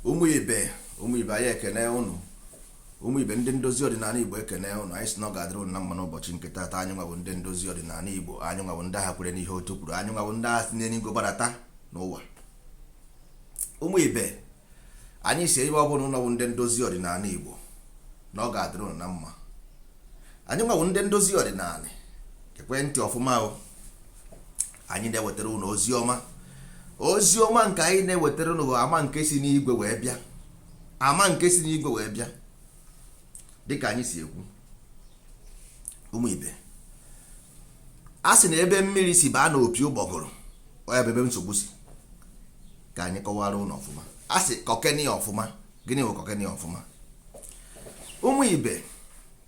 ụmụ ibe ụmụ ibe anyị ekene ụnụ ụmụ ibe ndị ndozi ọdịnala igbo ekene ụnụ anyị sị na ọ ga-adịrị ụnụ na mma n'ụbọchị nke taata anyị nwa bụ ndị ndozi ọdịnala igbo anyị nwa bụ ndị agha kwere n'ihe otu kwuru anyị nwa bụ ndị agha si n'enigwe barata n'ụwa ụmụ ibe anyị sị ebe ọ bụla ụnụ nọ bụ ndị ndozi ọdịnala igbo na ọ ga-adịrị ụnụ na mma anyị nwa bụ ndị ndozi ọdịnala gekwe ntị ọfụma o anyị na-ewetara ụnụ ozi ọma ozi ọma nke anyị na-ewetara ụnụ ama nke si n'igwe wee bịa ama nke si n'igwe wee bịa dịka anyị si ekwu ụmụ ibe a sị na ebe mmiri si baa n'opi ụgbọgụrụ ọ ya bụ ebe nsogbu si ka anyị kọwara ụnụ ọfụma a sị kọkeni ọfụma gịnị bụ kọkeni ọfụma ụmụ ibe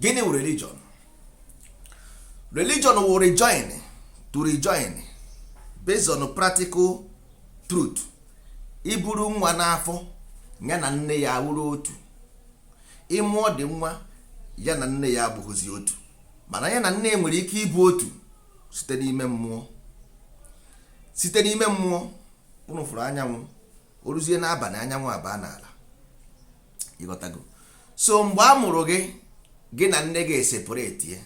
gịnị wụ religion religion wụ rejoin to rejoin based on practical truth i buru nwa n'afọ ya na nne ya wụrụ otu ị mụọ the nwa ya na nne ya abụghịzi otu mana ya na nne ya nwere ike ịbụ otu site n'ime mmụọ site n'ime mmụọ ụnụ fụrụ anyanwụ o ruzie n'abalị anyanwụ abaa n'ala ị ghọtago so mgbe a mụrụ gị gị na nne gị eseparate ya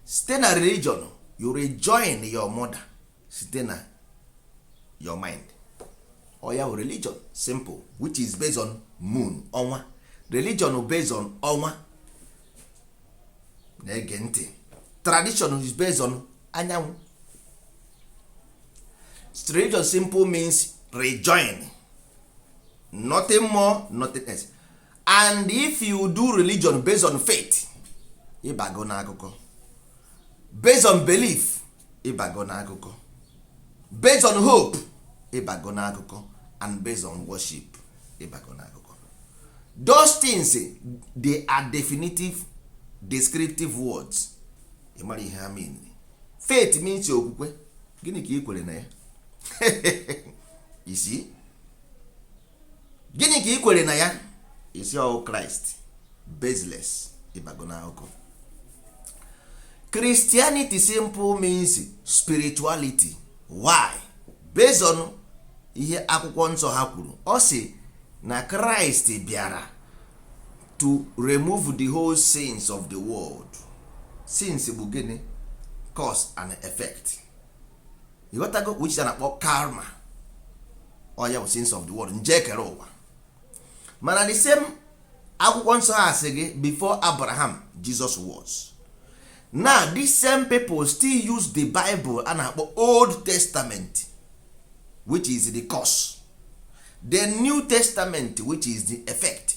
site na religion you rejoin your mother site na your mind ọ ya bụ religion simple which is based on moon ọnwa religion based on ọnwa na-ege ntị tradition is based on anyanwụ religion simple means rejoin nothing more nothing else and if you do religion based on faith ị bago n'akụkọ based on belief ị bago n'akụkọ based on hope ị bago n'akụkọ and based on worship ị bago n'akụkọ those things they are definitive descriptive words ị mara ihe ha mean faith means okwukwe gịnị ka ị kwere na ya ị sị gịnị ka ị kwere na ya ị sị ọ wụ kraịst baseless ị bago n'akụkọ christianity simple means spirituality why based on ihe akwụkwọ nsọ ha kwuru ọ sị na kraịst bịara to remove the whole sins of the world sins bụ gịnị cause and effect ịghọtago which is na-akpọ karma ọ ya bụ sins of the world njọ ekere ụwa mana the same akwụkwọ nsọ ha asị gị before abraham jesus was na these same people still use the bible a na-akpọ old testament which is the cause the new testament which is the effect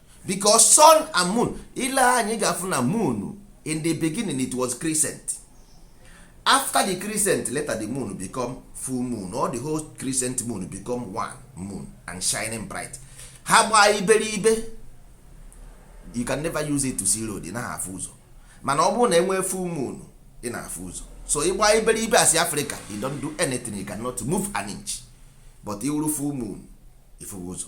because sun and moon ile anyị ga-afụ na moon in the beginning it was crescent after the crescent later the moon become full moon or the whole crescent moon become one moon and shining bright ha gbaa iberibe you can never use it to see road ị naghị afụ ụzọ mana ọ bụrụ na enwee full moon ị na-afụ ụzọ so ịgba iberibe as Africa you don't do anything you cannot move an inch but iwuru full moon ifuwe ụzọ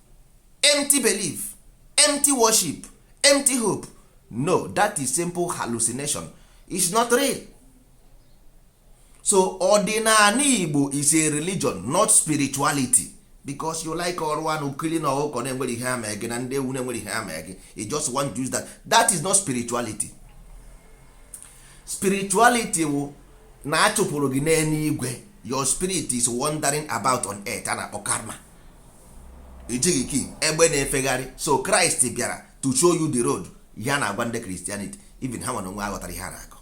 empty belief empty worship empty hope no that is simple hallucination is not real so ọdịnala igbo is a religion not spirituality because you like iri anụ killing ọkụkọ na-enwerọ ihe ha mee gị na ndị ewu na-enwerọ ihe ha mee gị you just want to use that that is not spirituality spirituality wụ na a chụpụrụ gị n'eluigwe your spirit is wandering about on earth a na-akpọ karma ị dị ka egbe na-efegharị so kraịst bịara to show you the road ihe a na-agwa ndị christianity even ha nwa onwe ha aghọtarọ ihe a na-akọ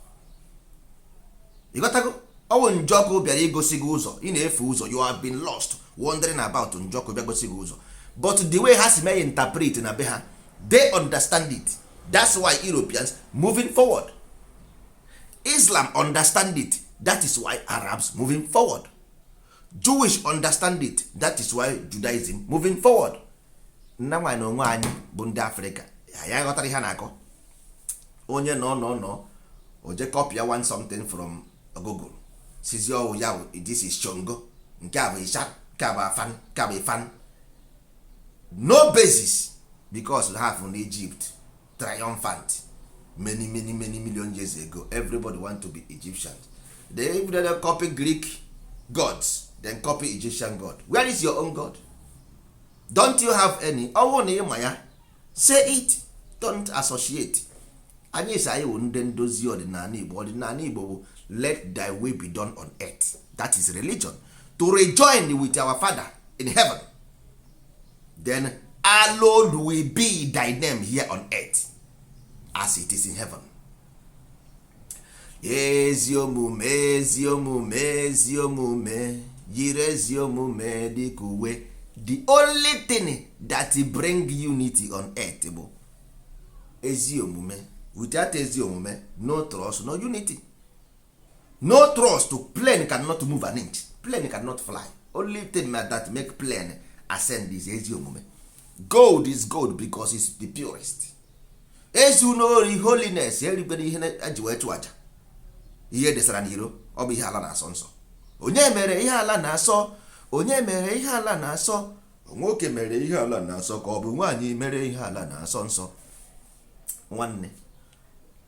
ịghọtago ọ wụ njọkụ bịara igosi gị ụzọ ị na-efu ụzọ you have been lost wandering about njọkụ bịa gosi gị ụzọ but the way ha si mee interpret na be ha they understand it that's why Europeans moving forward Islam understand it that is why Arabs moving forward jewish understand it that is why judaism moving forward mana anyị nwa onwe anyị bụ ndị afrịka anyị aghọtarọ ihe a na-akọ onye nọ nọ nọ o je kọpịa one something from google sịzị ọ wụ ya this is shango nke a bụ isha nke a bụ afa nke a bụ ifa no basis because ha fụ na egypt triumphant many many many million years ago everybody want to be egyptians they even they copy greek gods then copy egyptian god where is your own god don't you have any ọ wụ na ị ma ya say it don't associate anyị sị anyị wụ ndị ndozi ọdịnala igbo ọdịnala igbo bụ let thy will be done on earth that is religion to rejoin with our father in heaven then hallowed will be thy name here on earth as it is in heaven ezi omume ezi omume ezi omume yiri ezi omume dịka uwe the only thing that bring unity on earth bụ ezi omume without ezi omume no trust no unity no trust plane cannot move an inch plane cannot fly only thing that make plane ascend is ezi omume gold is gold because it's the purest ezuna ori holiness erikwala ihe e ji wee chụọ aja ihe e desara n'iro ọ bụ ihe ala na-asọ nsọ onye mere ihe ala na-asọ onye mere ihe ala na-asọ nwoke mere ihe ala na-asọ ka ọ bụ nwaanyị mere ihe ala na-asọ nsọ nwanne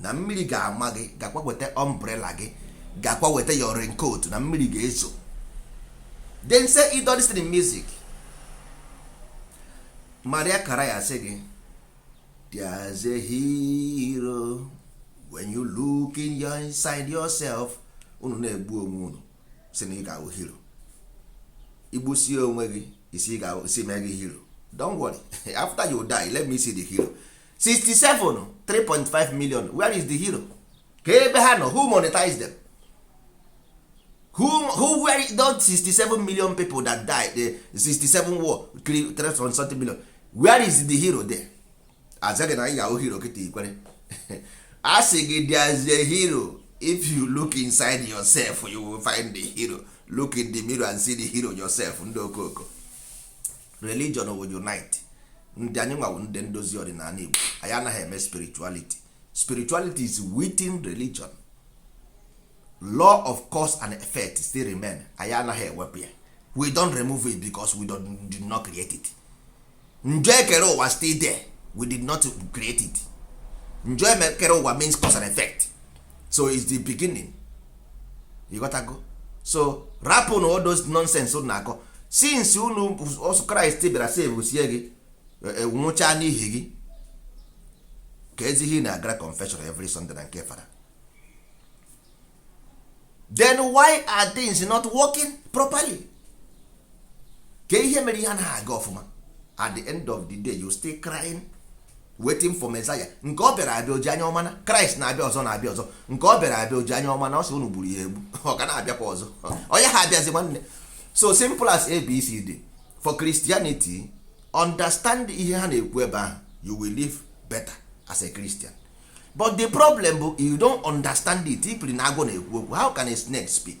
na mmiri ga-ama gị gakwa weta ọmbrela gị gakwa weta your raincoat na mmiri ga-ezo then say it all this in music mariah carey sị gị there's a hero when you look in your inside yourself unu na-egbu onwe unu sị na ị ga-awụ hero igbusie onwe gị isi mee gị hero don't worry after you die let me see the hero 67 3.5 million where is the hero kee ebe ha nọ who monetize them who, who were those 67 million people that died the 67 war 3.7 million where is the hero there azaghị na ị ga-awụ hero kịta ikwere a sị gị there is a hero if you look inside yourself you will find the hero look in the mirror and see the hero yourself ndị okooko religion will unite ndị anyịnwa wụ ndị ndozi ọdịnala Igbo anyị anaghị eme spirituality spirituality is within religion law of cause and effect still remain anyị anaghị ewepụ ya we don't remove it because we did not create it njọ ekere ụwa still there we did not create it njọ ekere ụwa means cause and effect so it's the beginning ịghọtago so rapụnụ all those nonsense unu na-akọ since unu sị kraịst bịara save sie gị e, e, nwụchaa n'ihi gị keezi ihe ị na-agara confession every Sunday na nke fada then why are things not working properly? kee ihe mere ihe anaghị aga ọfụma at the end of the day you still crying waiting for Messiah nke ọ bịara abịa oji anya ọma na Kraịst na-abịa ọzọ na-abịa ọzọ nke ọ bịara abịa oji anya ọma na ọ sị unu gburu ya egbu ọ ga na-abịakwa ọzọ ọ gaghị abịazi nwanne so simple as abcd for Christianity understand ihe ha na-ekwu ebe ahụ you will live better as a Christian but the problem bụ you don't understand it ipiri na agwọ na-ekwu okwu how can a snake speak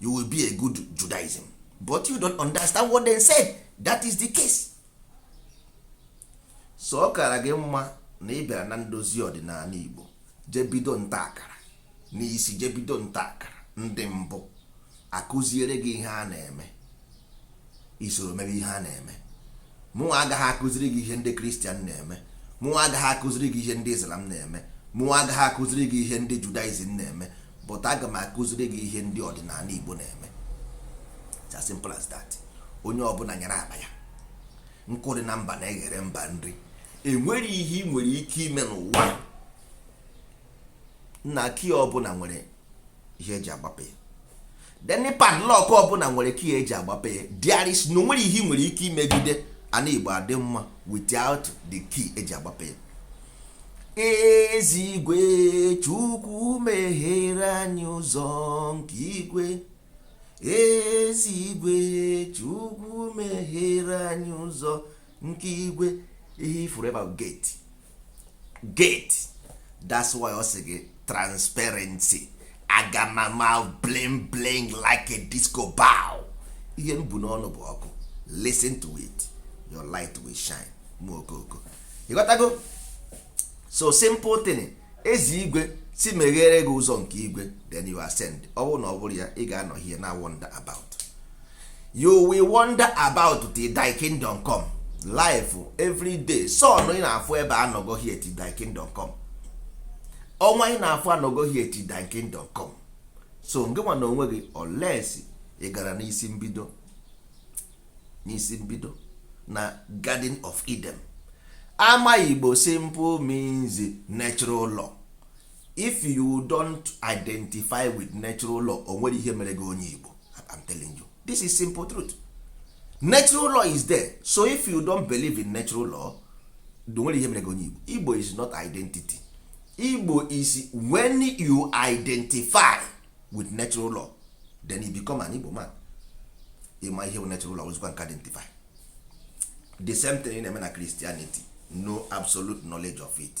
you will be a good judaism but you don't understand what they say that is the case so ọ kara gị mma na ị bịara na ndozi ọdịnala igbo jebido nta akara n'isi jebido nta akara ndị mbụ akụziere gị ihe a na-eme isoro mebe ihe a na-eme mụnwa agaghị akụziri gị ihe ndị kristian na-eme mụnwa agaghị akụziri gị ihe ndị islam na-eme mụnwa agaghị akụziri gị ihe ndị judaism na-eme but aga m akụziri gị ihe ndị ọdịnala igbo na-eme it's as simple as that onye ọbụla nyara akpa ya nkụ dị na mba na-eghere mba nri enwere ihe ị nwere ike ime n'ụwa na key ọbụla nwere ihe eji agbape ya then padlock ọbụla nwere key eji agbape ya there is no o nwere ihe ị nwere ike imegide ana igbo adị mma without the key eji agbape ya ezi igwe chukwu meghere anyị ụzọ nke igwe ezi igwe chukwu meghere anyị ụzọ nke igwe ihe ifuru ebe ahụ gate gate that's why ọ sị gị transparency agamama bling bling like a disco ball ihe m bu n'ọnụ bụ ọkụ listen to it your light will shine mụ okoko ịghọtago so simple thing ezi igwe si meghere gị ụzọ nke igwe then you ascend ọ bụrụ na ọ bụrọ ya ị ga-anọ here na-wander about you will wander about till thy kingdom come life every day sun ị na-afụ ebe anọgo here till thy kingdom come ọnwa ị na-afụ anọgo here till thy kingdom come so ngị nwa na onwe gị unless ị gara n'isi mbido na garden of eden ama igbo simple means natural law if you don't identify with natural law o nwere ihe mere gị onye igbo I'm telling you this is simple truth natural law is there so if you don't believe in natural law o nwere ihe mere gị onye igbo igbo is not identity igbo is when you identify with natural law then you become an igbo man ịma ihe bụ natural law ozikwa nke identify the same thing na-eme na christianity no absolute knowledge of it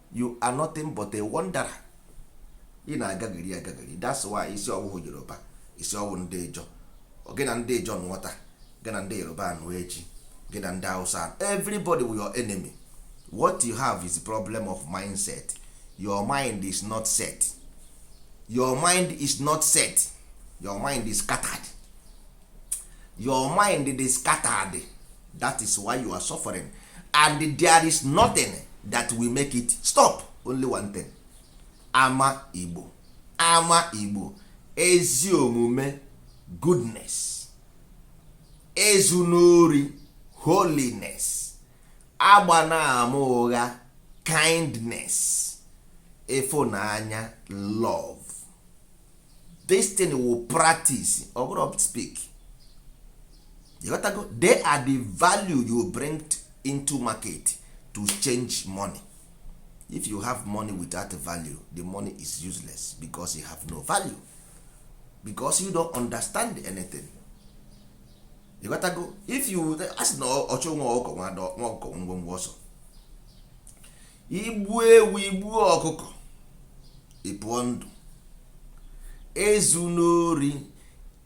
you are nothing but a wanderer ị na-agagharị agagharị that's why ị sị ọ wụhụ yoruba ị sị ọ wụ ndị ijaw gị na ndị ijaw nụọ taa gị na ndị yoruba anụọ echi gị na ndị hausa everybody wụ your enemy what you have is a problem of mindset your mind is not set your mind is not set your mind is scattered your mind dey scattered that is why you are suffering and there is nothing that will make it stop only one thing ama igbo ama igbo ezi omume goodness ezu n'ori holiness agba na-ama ụgha kindness ịfụnanya love this thing wụ practice ọ bụrọ speak ịghọtago they are the value you bring into market to change money if you have money without value the money is useless because you have no value because you don't understand anything ịghọtago if you asị na ọchụ nwa ọkụkọ nwa ọkụkọ nwọnwọ ọsọ igbu ewu igbu ọkụkọ ịpụọ ndụ ezu n'ori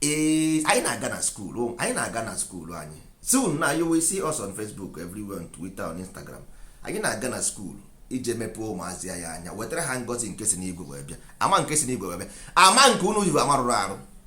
ee anyị na-aga na school anyị na-aga na school anyị soon now you will see us on Facebook everywhere on Twitter on Instagram anyị na-aga na school ije mepee ụmụazị a anya wetara ha ngozi nke si n'igwe wee bịa ama nke si n'igwe wee bịa ama nke unu ji ama rụrụ arụ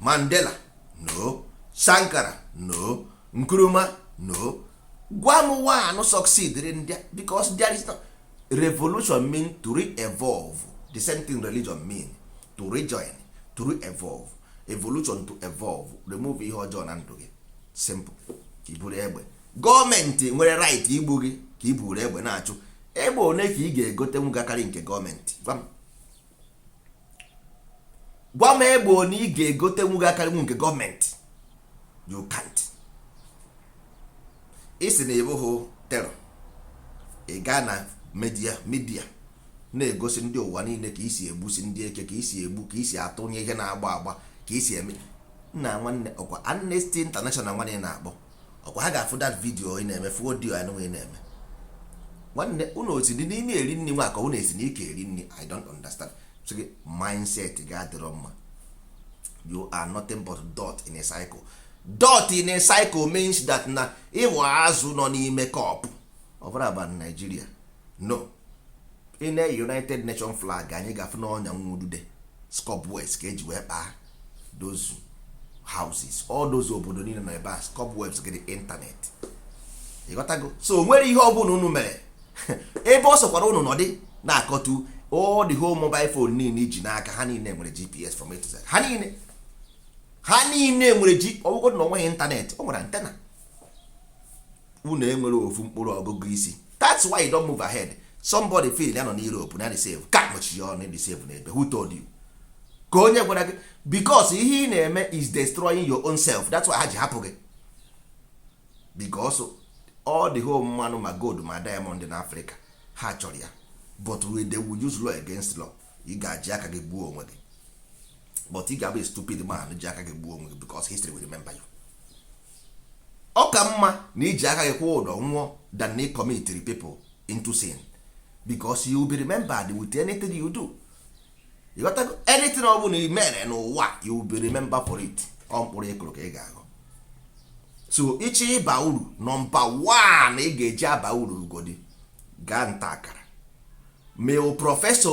mandela no sankara no nkrumah no gwa m one succeed ndị because there is no revolution mean to re-evolve the same thing religion mean to rejoin to re-evolve evolution to evolve remove ihe ọjọọ na ndụ gị simple ka i buru egbe gọọmenti nwere right igbu gị ka i buru egbe na-achụ egbe one ka ị ga-egotenwu ga-akarị nke gọọmenti gwa m gwa m egbe one ị ga-egotenwu ga-akarịnwu nke gọọmenti you can't ị sị na ị bụghị terror ị gaa na media media na-egosi ndị ụwa niile ka i si egbusi ndị eke ka i si egbu ka i si atụnye ihe na-agba agba ka i si eme nna nwanne ọkwa Amnesty International nwanne na-akpọ ọkwa ha ga-afụ that video ị na-eme fụ audio anụ ị na-eme nwanne unu esi dị n'imi eri nri nwa ka unu esi n'ike eri nri i don't understand so gị mindset gị adịrọ mma you are nothing but dot in a cycle dot in a cycle means that na ị wụ azụ nọ n'ime cup ọ bụrụ aba Nigeria no ị nee united nation flag anya ị ga-afụ na ọnya nwa udude cobwebs ka e ji wee kpaa those houses all those obodo niile nọ ebe a cobwebs gịnị ịntanetị ị ghọtago so o nwere ihe ọbụla unu mere ebe ọ sọkwara unu nọdị na-akọtu all the whole mobile phone niile i ji n'aka ha niile nwere gps from A to Z ha niile ha niile nwere g ọ wụgodu na o nweghị ịntanetị o nwere antenna unu enwerọ ofu mkpụrụ ọgụgụ isi that's why you don't move ahead somebody feel ya nọ na Europe na safe ka kpochi ya ọnụ safe n'ebe who told you ka onye gwara gị because ihe ị na-eme is destroying your own self that's why ha ji hapụ gị because all the whole mmanụ ma gold ma diamond na Africa ha chọrọ ya but they will use law against law ị ga-eji aka gị gbuo onwe gị but ị ga-abụ stupid man ji aka gị gbuo onwe gị because history will remember you ọ ka mma na i ji aka gị kwụọ ụdọ nwụọ than na ị commitiri people into sin because you will be remembered with anything you do ị ghọtago anything ọ bụla i mere n'ụwa you will be remembered for it ọ mkpụrụ ị kụrụ ka ị ga-aghọ so ị chọọ ịba uru nọmba 1 ị ga-eji aba uru ugodi gaa nta akara ma prọfesọ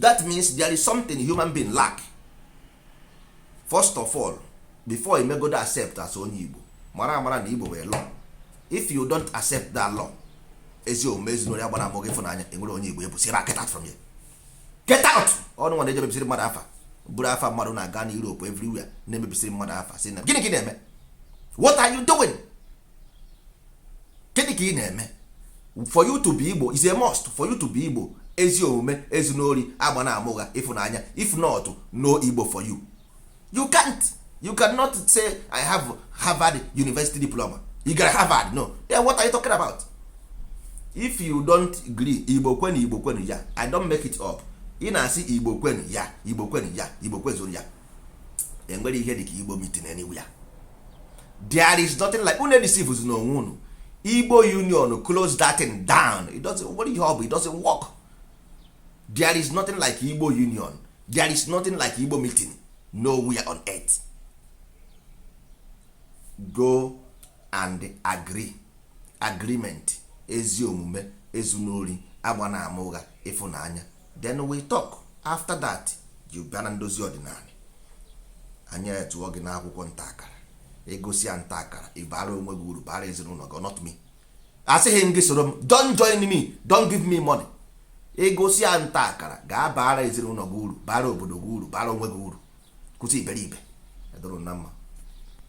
that means there is something human being lack first of all before i megodo accept as onye igbo mara amara na igbo nwere law if you don't accept that law ezi omume ezinụlọ ya gbara amụ ịfụnanya enwere onye igbo ebu sira get out from here get out ọ unu nwa na-eje mebisiri mmadụ afa buru afa mmadụ na-aga na Europe everywhere na-emebisiri mmadụ afa sị na gịnị ka ị na-eme what are you doing gịnị ka ị na-eme for you to be igbo is a must for you to be igbo ezi omume ezuna ori agbana ama ụgha ịfụnanya if not no igbo for you you can't you cannot say i have harvard university diploma ị gara harvard no then what are you talking about if you don't agree igbo kwenu igbo kwenu ya i don't make it up ị na-asị igbo kwenu ya igbo kwenu ya igbo kwezuru ya enwere ihe dịka igbo meeting anywhere there is nothing like unu edeceivezina onwe unu igbo union close that thing down it doesn't nwere ihe ọ bụ it doesn't work there is nothing like igbo union there is nothing like igbo meeting nowhere on earth go and agree agreement ezi omume ezuna ori agbana ama ụgha ịfụnanya then we talk after that you bịa na ndozi ọdịnala anyị etụọ gị n'akwụkwọ nta akara egosi ya nta akara ị bara onwe gị uru bara ezinụlọ gị not me asịghị m gị soro m don't join me don't give me money egosi ya nta akara gaa bara ezinụlọ gị uru bara obodo gị uru bara onwe gị uru kwụsị iberibe edoro na mma